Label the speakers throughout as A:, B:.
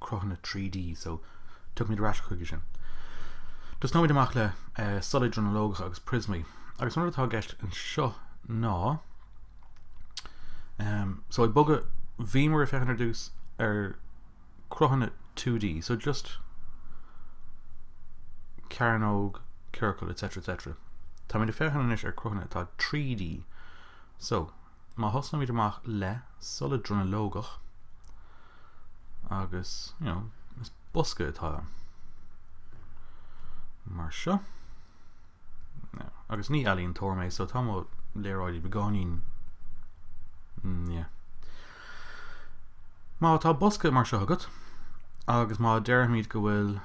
A: cruthanna trí D, so tiocfaimid ar ais chuige sin. Tosnóimid amach le solaid dronuilleogacha agus prismaí, agus an rud atá i gceist anseo ná, ehm, so ag bogadh, bhíomar ag féachaint ar dtús ar cruthanna 2D, so just cearnóg, ciorcal, etc, etc. Táimid ag féachaint anois ar cruthanna atá 3D, so, Má thosnaímid amach le solad dronuilleogach agus, you know, is bosca atá ann mar seo. Now. Agus ní ealaíontóir mé, so tá mo léaráidí beagáinín. Mm, yeah. Má tá bosca mar seo agat, agus má deirfimid go bhfuil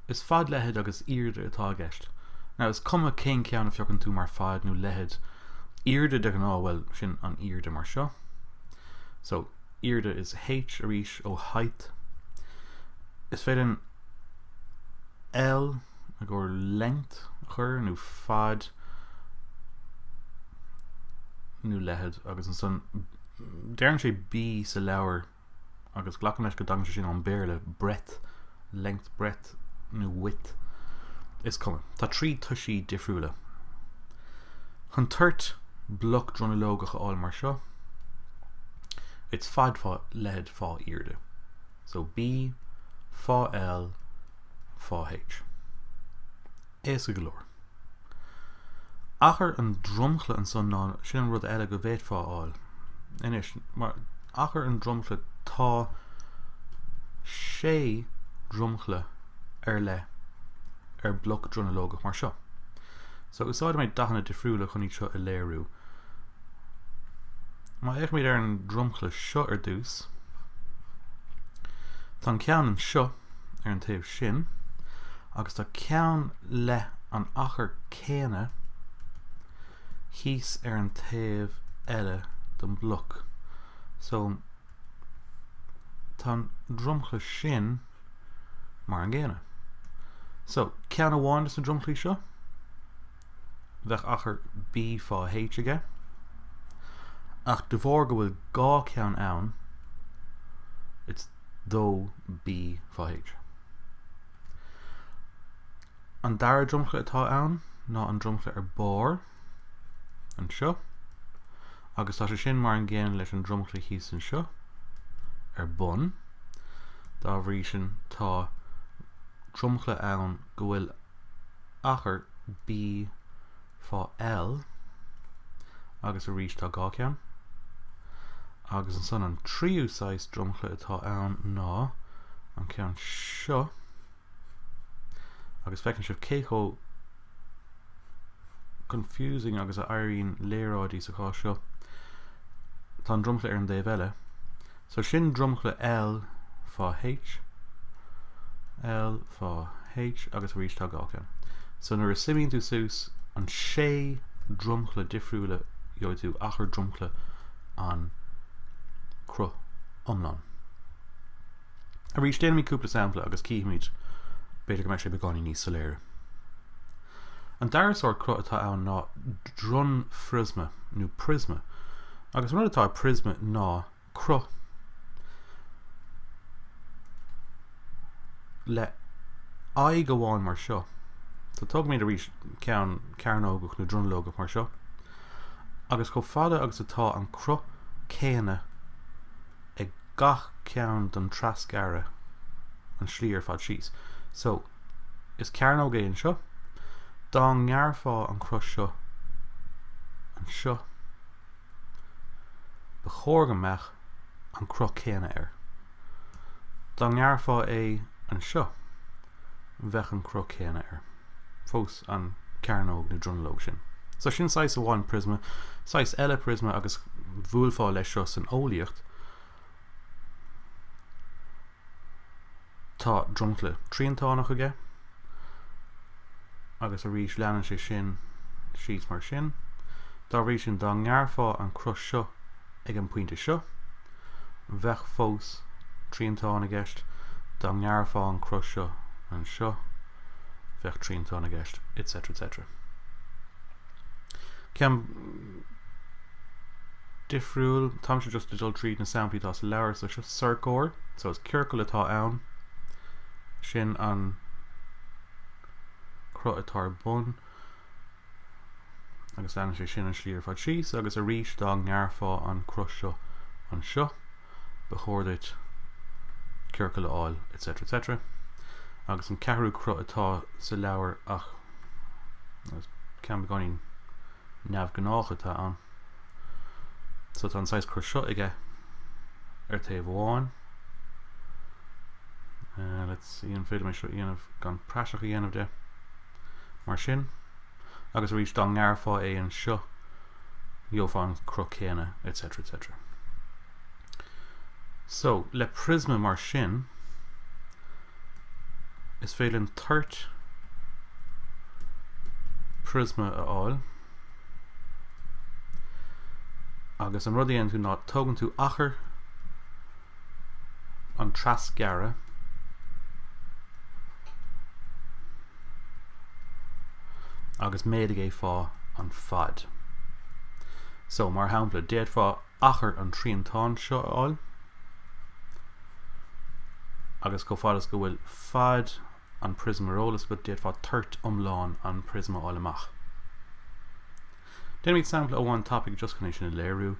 A: Is fad, leithead agus airde atá i gceist. Now, is cuma cén ceann a phiocann tú mar fad nó leithead. Airde de ghnáth, bhuel, sin an airde mar seo. So, airde is H arís ó height. Is féidir an L i gcomhair length a chur nó fad nó leithead agus ansan deireann sé B sa leabhar agus glacaim leis go dtagann sé sin ón Béarla breadth, length, breadth, no, width. Is cuma. Tá trí toisí difriúla. Chun toirt bloc dronuilleogach a fháil mar seo, it's fad fá leithead fá airde. So B fá L fá H. Éasca go leor. Achar an dromchla ansan ná sin an rud eile go bhféadfá a fháil. Anois, mar achar an dromchla tá sé dromchla ar leith ar bloc dronuilleogach mar seo. So úsáidfidh mé dathanna difriúla chun iad seo a léiriú. Má fhéachaimid ar an dromchla seo ar dtús, tá an ceann anseo ar an taobh sin, agus tá ceann leis an achar céanna thíos ar an taobh eile den bloc. So, tá an dromchla sin mar an gcéanna. So, ceann amháin dos na dromchlaí seo, bheadh achar B fá H aige, ach de bharr go bhfuil dhá ceann ann, it's dó B fá H. An dara dromchla atá ann ná an dromchla ar barr, anseo, agus tá sé sin mar an gcéanna leis an dromchla thíos anseo, ar bun. Dá bhrí san, tá dromchla ann go bhfuil achar B fá L agus arís tá dhá cheann agus ansan an tríú saghas dromchla atá ann ná an ceann seo agus feiceann sibh cé chomh confusing agus a éiríonn léaráidí sa chás seo tá an dromchla ar an dtaobh eile So sin dromchla L fá H, L fá H agus arís tá dhá cheann. So nuair a suimíonn tú suas na sé dromchla difriúil gheobhaidh tú achar dromchla an chruth iomlán. Arís déanfaimid cúpla sampla agus cífimid b'fhéidir go mbeidh sé beagáinín níos soiléire. An dara sórt cruth atá ann ná dronphriosma nó priosma agus an rud atá i priosma ná cruth le haghaidh amháin mar seo. So tógaimid arís ceann cearnógach nó dronuilleogach mar seo agus chomh fada agus atá an cruth céanna ag gach ceann den trasghearradh an tslí ar fad síos. So is cearnóg é anseo. Dá ngearrfá an cruth seo anseo. Ba chóir go mbeadh an cruth céanna air. Dá ngearrfá é anseo, bheadh an cruth céanna air. Fós an cearnóg nó dronuilleog sin. So sin saghas amháin priosma, saghas eile priosma agus bhuailfeá leis seo san eolaíocht, Tá dromchla triantánach aige agus arís leanann sé sin síos mar sin. Dá bhrí sin dá ngearrfá an cruth seo ag an pointe seo, bheadh fós triantán i gceist, dá ngearrfá an cruth seo anseo, bheadh triantán i gceist, etc. etc. Ceann difriúil. Táimse just ag dul tríd na samplaí atá sa leabhar. So seo sorcóir. So is ciorcal atá ann. Sin an cruth atá ar a bhun. Agus leanann sé sin an slí ar fad síos agus arís dá ngearrfá an cruth seo anseo, ba chóir duit ciorcal a fháil, etc. etc. Agus an ceathrú cruth atá sa leabhar ná ceann beagáinín neamhghnách a tá ann. So tá an saghas cruth seo aige ar taobh amháin. Uh, let's see an féidir liom é seo a dhéanamh gan praiseach a dhéanamh de. Mar sin, agus arís dá ngearrfá é anseo, gheofá an cruth céanna, etc. etc. So, le priosma mar sin, is féidir linn toirt priosma a fháil. Agus an rud a dhéanann tú ná tógann tú achar an trasghearradh agus méadaigh é fá an fad. So, mar shampla, d'fhéadfá achar an triantáin seo a fháil, agus chomh fada is go bhfuil fad an priosma ar eolas agat, d'fhéadfá toirt iomlán an priosma a fháil amach. Déanfaimid sampla amháin tapaidh just chun é sin a léiriú,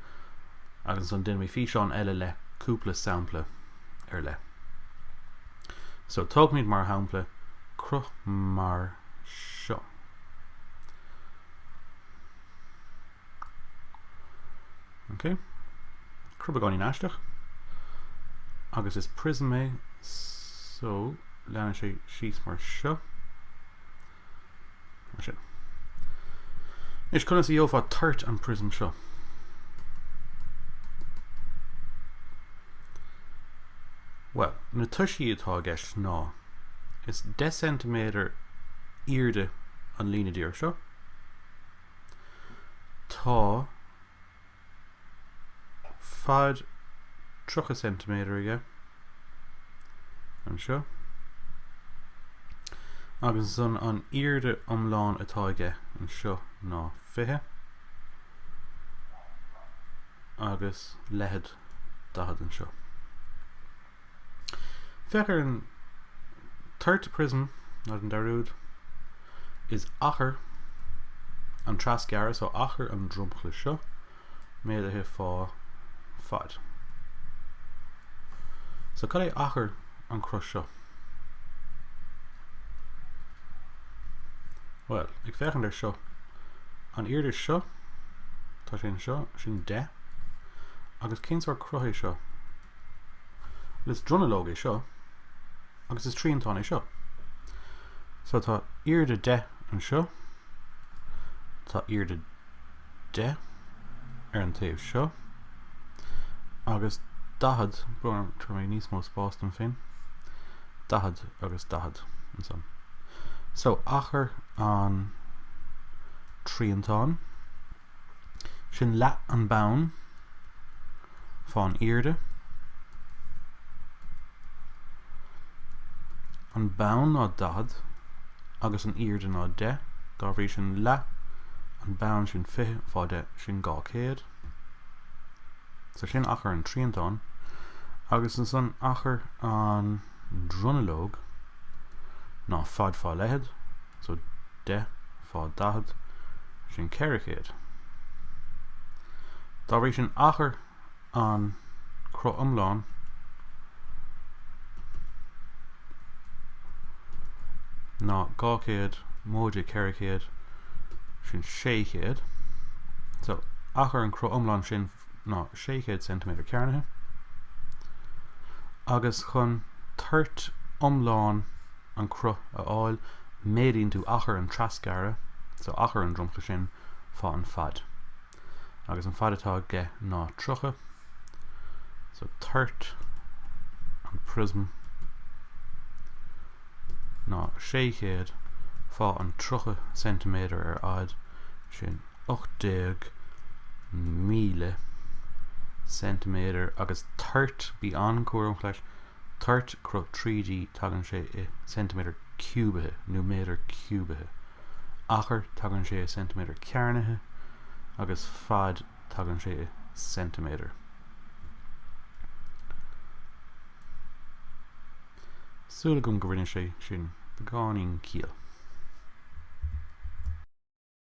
A: agus ansan déanfaimid físeán eile le cúpla sampla ar leith. So, tógfaimid mar shampla cruth mar seo. Ok. Cruth beagáinín aisteach. Agus is prism é, so leanann sé síos mar seo. Mar sin. Anois conas a gheofá toirt an prism seo? Well, na toisí atá i gceist ná is 10 cm airde an líne díreach seo, Tá fad 30 ceintiméadar aige, anseo, agus ansan an airde iomlán atá aige, anseo, ná 20, agus leithead 40, anseo. Féach ar an toirt prism ná an dá rud. Is achar an trasghearradh, so achar an dromchla seo, méadaithe fá fad. So cad é achar an chruth seo? Bhuel, ag féachaint ar seo, an airde seo, tá sé anseo, sin 10, agus cén sórt cruth é seo? Is dronuilleog é seo agus is triantán é seo. So tá airde 10 anseo, tá airde 10 ar an taobh seo agus 40 bun, tabharfaidh mé níos mó spás dom féin 40 agus 40 ansan. So achar an triantán Sin leath an bonn fán airde. An bonn ná 40 agus an airde ná 10, dá bhrí sin leath an bonn sin 20 fá 10, sin 200. So sin achar an triantán, agus ansan achar an dronuilleog ná fad fá leithead, so deich fá daichead, sin ceithre chéad. Dá bhrí sin, achar an cruth iomlán, ná dhá chéad móide ceithre chéad, sin sé chéad. So, achar an cruth iomlán sin ná 600 ceintiméadar cearnaithe, agus chun toirt iomlán an chruth a fháil, méadaíonn tú achar an trasghearradh, so achar an dromchla sin, fá an fad. Agus an fad atá aige ná 30, so toirt an prism ná 600 fá an 30 ceintiméadar ar fhad sin. 18,000 ceintiméadar agus toirt, bí an-chúramach leis, toirt cruth 3D, tagann sé i ceintiméadar ciúbaithe nó méadar ciúbaithe, achar, tagann sé i ceintiméadar cearnaithe, agus fad, tagann sé i ceintiméadar. Súil agam go rinne sé sin beagáinín ciall.